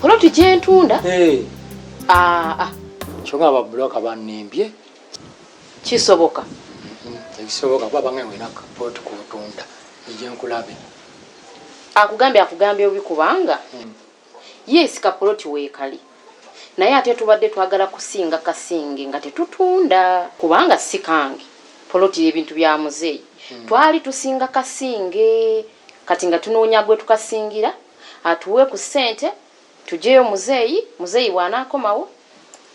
poloti gyentunda eh. aa ah, ah. kyonga babuloka banimbye kisoboka mm-hmm. ekisoboka kuba bange wena poloti kuntunda egyenkulabe akugambye akugambye obi kubanga mm. yes kapoloti weekali naye ate tubadde twagala kusinga kasinge nga tetutunda kubanga si kange poloti ebintu bya muzeeyi hmm. twali tusinga kasinge Kati nga tunoonya gwetukasingira atuwe ku ssente tujeyo muzeeyi, muzeeyi bwanaakomawo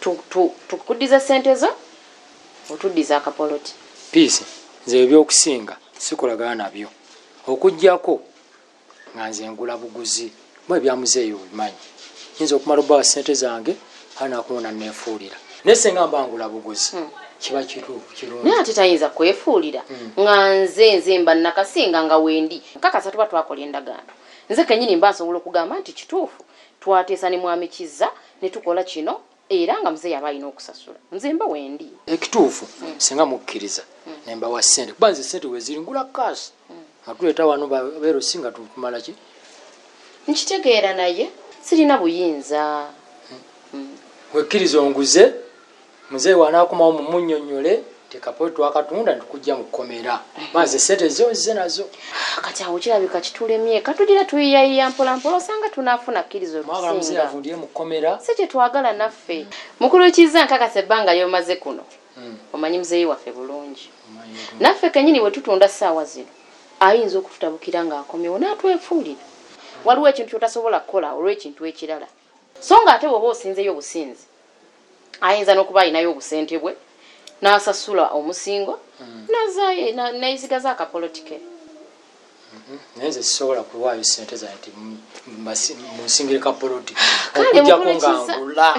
tu tu tukuddize ssente zo otuddize akapoloti. Peace nze ebyokusinga sikolagana nabyo okujjako nga nze ngula buguzi. mwe bya muzeeyi obimanyi nyinza okumala obawa sente zange aa nakuwona nefuulira naye senga mbangula buguzi hmm. kiba kirungi ate tayinza kwefuulira hmm. nga nze nze mba nakasinga nga wendi nkakasa tuba twakola endagaano nze kenyini mba nsobola okugamba nti kituufu twateesa ne mwami kizza ne tukola kino Era nga mzee yaba alina okusasula nze mba wendi ekituufu mm. singa mukkiriza mm. nembawa sente kuba nze sente weziri ngula kas mm. nga tuleeta wano beero si nga tukumala ki nkitegeera naye sirina buyinza mm. mm. wekkiriza onguze mzee wanaakomawo mumunyonyole tekapo twakatunda ntukujja mu kkomera maze sente zo nzize nazo kati awo kirabika kitulemye katugira tuyiyayiya mpolampola osanga tunaafuna kkiriza olusingaavundire mu kkomera si kye twagala naffe mukulu kizza nkakasa ebbanga lyomaze kuno hmm. omanyi muzeeyi waffe bulungi naffe kenyini bwe tutunda ssaawa zino ayinza okututabukira ng'akomyewo n'atwefuulira waliwo ekintu kyotasobola kukola olw'ekintu ekirala So nga ate bwoba osinzeyo businzi ayinza nokuba alinayo obusente bwe nasasula omusingo mm. nazaye neyisigaza akapoloti ke mm-hmm. naye nze sisobola kuwaayo sente zange ti munsingire kapoloti okujjako nga ngula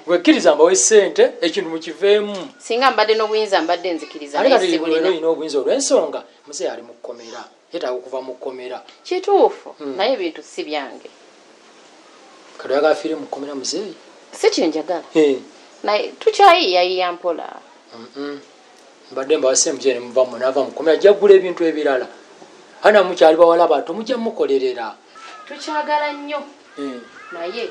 wekkiriza mbawe sente ekintu mukiveemu singa mbadde n'obuyinza mbadde nzikiriza naye sibulina olina obuyinza olw'ensonga muzeeyi ali mu kkomera Yetaaga okuva mu komera. Kituufu mm. naye ebintu si byange. Kati oyagala fiire mu komera muzeeyi? Si kye njagala. Hey. Naye tukyayiiyayiiya mpola. Mm -mm. Mbadde mbawase mujere muva mu nava mu komera jagula ebintu ebirala. Hana mukyali bawala bato mujja mukolerera. Tukyagala nnyo. Mm. Naye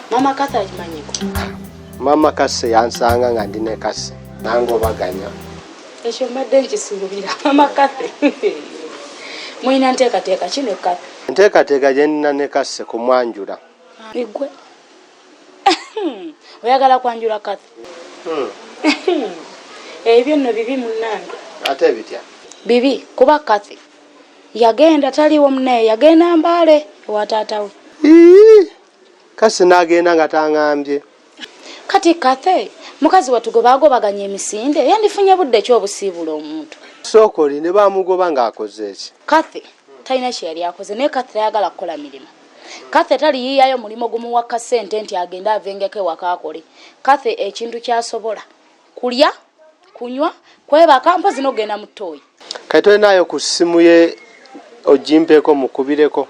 Mama Kase akimanyiko. Mama Kase yansanga nga ndi ne Kase nange obaganya. Ekyo mbadde nkisuubira Mama Kase. Mulina nteekateeka ki ne Kase? Nteekateeka gye nnina ne Kase kumwanjula. Igwe oyagala kwanjula Kase? Hmm. Ebyo nno bibi munnange. Ate bitya? Bibi kuba Kase yagenda taliwo munaye yagenda Mbale ewa taata we. Kasi nagenda nga tangambye. Kati Cathy mukazi wattu gwe baagobaganya emisinde yandifunye budde ki obusiibuula omuntu? Sookoli ne bamugoba ng'akoze ki? Cathy talina kye yali akoze naye Cathy tayagala kukola mirimu. Cathy taliyiiyayo mulimu gumuwa ka ssente nti agende avengeko ewaka akole. Cathy ekintu ky'asobola. kulya kunywa kwebaka mpozi nokugenda mu toyi kati tolinayo ku ssimu ye ogimpeko mukubireko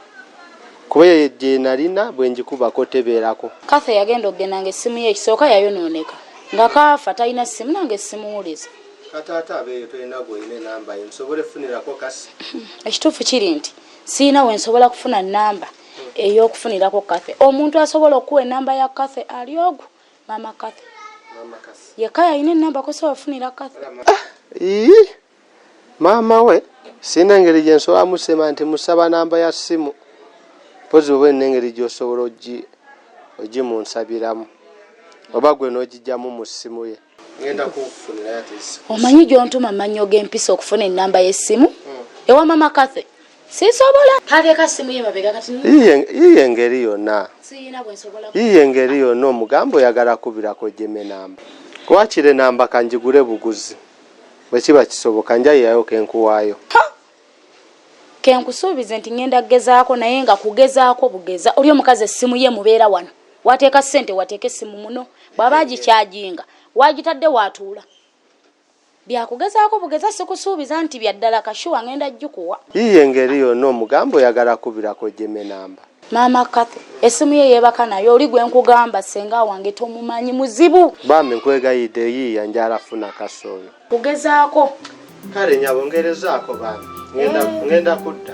kuba eyo gyenalina bwengikubako tebeerako kathe yagenda okugenda nga essimu ye ekisooka yayonooneka nga kaafa talina ssimu nange essimuwuliza kataata abeeyo tolina gwolina enamba ye musobole funirako kasi ekituufu kiri nti sirina we nsobola kufuna namba ey'okufunirako kathe omuntu asobola okukuwa enamba ya kathe ali ogwo Mama Kathy. Mama Kathy. Yeka yalina enamba kosa wafunira Kathy. Ah, ii. Mama we sina engeri gye nsobola musema nti musaba namba ya simu. Pozi oba ene engeri gy'osobola ogi ogimunsabiramu oba gwe n'ogijjamu mu ssimu ye. Ngenda kufunira yati. Omanyi gy'ontuma mannyo g'empisa okufuna ennamba y'essimu? Hmm. Ewa Mama Kathy. sisobola kateeka simu ye mabega kati yiye engeri yonna yiye engeri yonna omugamba oyagala kubirako jeme namba wakire namba kanjigule buguzi bwe kiba kisoboka njayayo kenkuwaayo kenkusuubize nti ngenda kugezaako naye nga kugezaako bugeza oli omukazi essimu ye mubeera wano wateeka ssente wateeka essimu muno bwaba agikyajinga wagitadde watuula Byakugezaako bugeza sikusuubiza nti bya ddala ka sure ngenda jjukuwa. Yiiyo engeri yonna omugambe oyagala kubira kojjeme namba. Maama Cathy esimu ye yebaka nayo oli gwe nkugamba ssenga wange tomumanyi muzibu. Bambi nkwegayidde yiiya njala funa kaso oyo. Kugezaako. Kale nyabo ngerezaako bambi ngenda eh. kudda.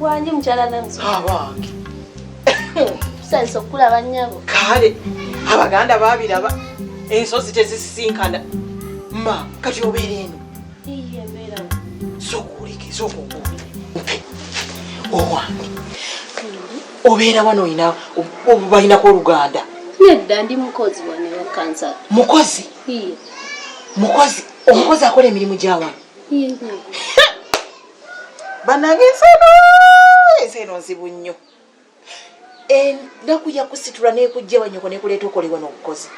wangi mukyala nange abange tusanyusa okukulaba nnyabo kale abaganda babiraba ensozi tezisisinkana ma kati obeera eno obeera wano olina balinako oluganda nedda ndi mukozi wanewakansa mukozi mukozi omukozi akola emirimu gyawano banange ensano ensi eno nzibu nnyo enaku yakusitula nekujja wanyoko nekuleeta okole wano obukozi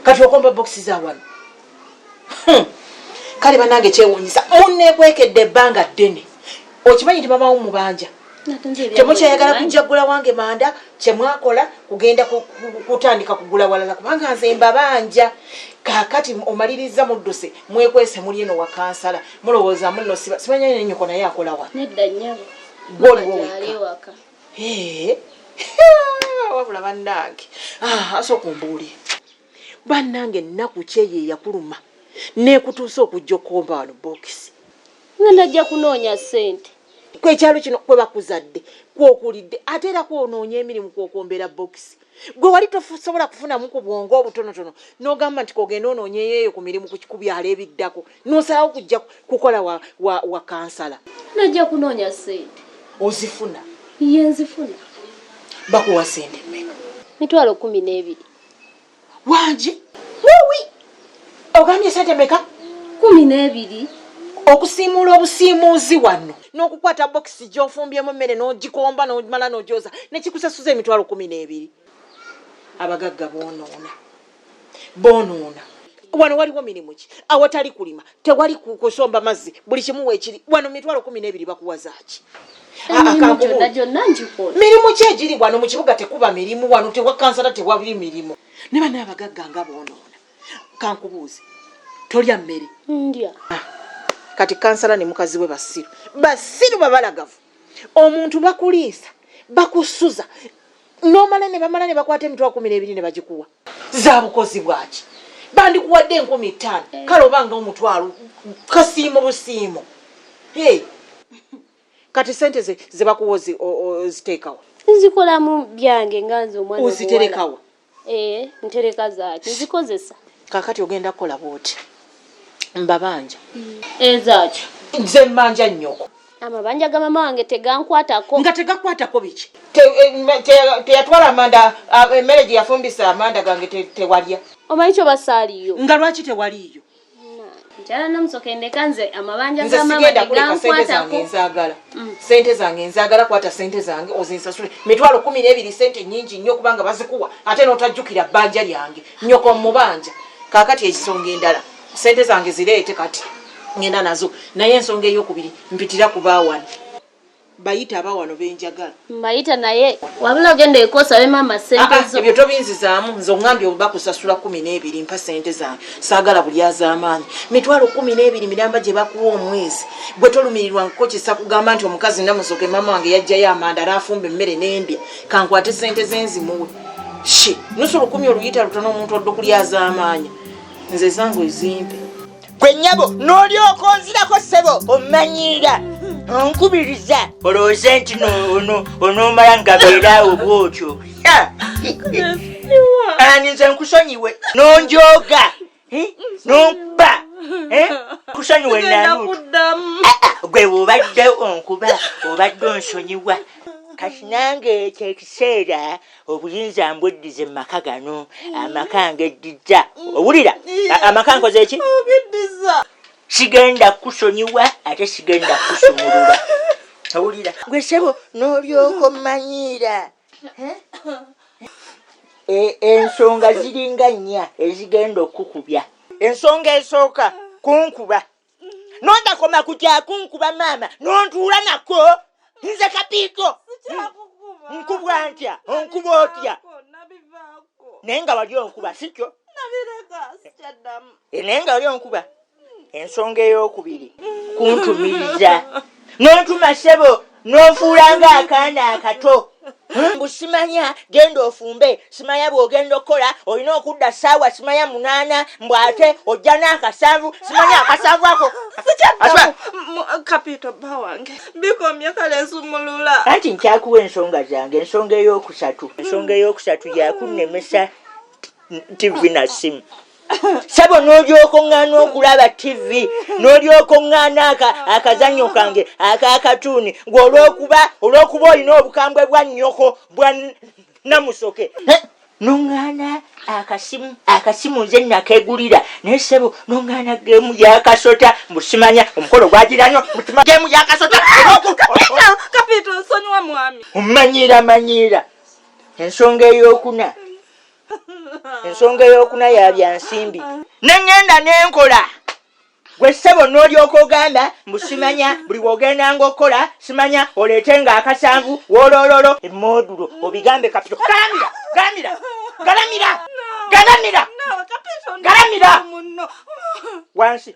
kati okomba bokisi za wano hmm. kale banange kyewunyisa munekwekedde ebbanga ddene okimanyi nti mamawo mubanja temukyayagala kujagula wange manda kyemwakola kugenda kutandika kugula walala kubanga nze mbabanja kakati omaliriza mudduse mwekwese muli eno wakansala mulowooza muno simanyanyenyoko naye akolawa gwe oliwo wekka wabula bannange ah, asooka ombuuli bannange ennaku kyeyo eyakuluma nekutuusa okujja okukomba wano bokisi nga najja kunoonya ssente kwekyalo kino kwebakuzadde kwokulidde ate era kwonoonya emirimu kwokwombeera bokisi gwe wali tosobola kufunamu ku bwongo obutonotono nogamba nti kogenda ononyeyo eyo ku mirimu ku byalo ebiddako nosalawo kujja kukola wa, wa, wa kansala najja kunoonya sente ozifuna ye nzifuna bakuwa sente mmeka mitwalo kumi n'ebiri wangi wowi ogambye sente meka kumi n'ebiri okusiimuula obusiimuuzi wano n'okukwata bokisi gy'ofumbyemu emmere n'ogikomba n'omala n'ogyoza nekikusasuza emitwalo kumi n'ebiri abagagga boonoona boonoona wano waliwo mirimu ki awatali kulima tewali kusomba mazzi buli kimu weekiri wano mitwalo kumi n'ebiri bakuwazaaki mirimu ki egiri wano mu kibuga tekuba mirimu wano tewakansala tewali mirimu ne bana abagagga nga boonoona kankubuuzi tolya mmere ndya ah, kati kansala ne mukazi we basiru basiru babalagavu omuntu bakuliisa bakusuza nomala ne bamala ne bakwata emitwa kumi n'ebiri ne bagikuwa za bukozi bwaki bandikuwadde enkumi ttaano eh. kale obanga omutwalo kasiimo busiimo kati sente ze zebakuwa oziteekawa nzikolamu byange nga nze omwana oziterekawa ee eh, ntereka zaaki nzikozesa kakati ogenda kukola bwoti mbabanja mm. ezaaki eh, nze mbanja nnyoko amabanja ga mama wange tegankwatako nga tegakwatako biki eh, teyatwala amanda emmere gye yafumbisa amanda gange tewalya omanyi kyobasaaliyo nga lwaki tewaliyo njala nomusoka endeka nze amabanja ga mama tegankwatako nzagala mm. sente zange nzagala kwata sente zange ozinsasule mitwalo kumi n'ebiri sente nyingi nnyo kubanga bazikuwa ate notajjukira bbanja lyange nyoko mubanja kakati ekisonga endala sente zange zireete kati ngenda nazo naye ensonga eyokubiri mpitira kubaawani Bayita abawano benjagala. Mbayita naye wabula ogenda eko osabe maama Ah, ssente ah, zo. ebyo tobinzizaamu nze ongambye oba kusasula kumi n'ebiri mpa sente zange saagala bulyazaamaanyi mitwalo kumi n'ebiri miramba gye bakuwa omwezi gwe tolumirirwa nkuko kisa kugamba nti omukazi namusoke maama wange yajjayo amanda n'afumba emmere n'endya kankwate sente ze nzimuwe shi nusu lukumi oluyita lutono omuntu odda okulyazaamaanya nze zange ezimpe gwe nyabo n'olyoka onzirako ssebo omanyiira onkubiriza olowooze nti onoomala nga beeraawo bwotyo ani nze nkusonyiwe n'onjooga n'ompa kusonyiwe nanutu ah, ah, gwe obadde onkuba obadde onsonyiwa kati nange kyekiseera obuyinza mbweddize mu maka gano amaka ngeddizza owulira amaka nkoze ki sigenda kukusonyiwa ate sigenda kukusumulula owulira gwe sebo n'olyoka ommanyiira e, ensonga ziringa nnya ezigenda okukubya ensonga esooka kunkuba nondakoma kujakunkuba maama nontuula nako nze kapiiko nkuba ntya onkuba otya naye nga wali onkuba sikyo eh, naye nga wali onkuba ensonga eyokubiri kuntumiriza n'otuma ssebo n'ofuula ng'akaana akato hmm? mbu simanya genda ofumbe simanya bw'ogenda okukola olina okudda ssaawa simanya munaana mbu ate ojja n'akasanvu simanya akasanvu ako kapito bba wange bikomye kale nsumulula anti nkyakuwa ensonga zange ensonga ey'okusatu ensonga ey'okusatu yakunnemesa tivi na simu sebo n'olyoka oŋŋaana okulaba tivi n'olyoka oŋŋaana akazannyo kange akakatuuni ng'olwokuba olw'okuba olina obukambwe bwa nnyoko bwa namusoke noŋŋaana akasimu akasimu nze nakegulira naye sebo noŋŋaana geemu yakasota mbusimanya omukolo gwagiranyo mutima geemu yakasota kapito nsonyiwa mwami omanyiira manyiira ensonga ey'okuna ensonga eyokuna yabya nsimbi neŋŋenda nenkola gwe ssebo n'olyoka ogamba mbu simanya buli wogendanga okukola simanya oleete nga akasanvu wolololo emodulo obigambe kapito galamira galamira galamira galamira galamira wansi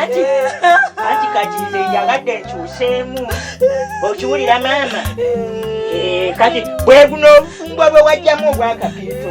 anti anti kati nze njagadde nkyuseemu okiwulira maama eh, kati bweguno obufumbo bwe wajjamu obwakapiito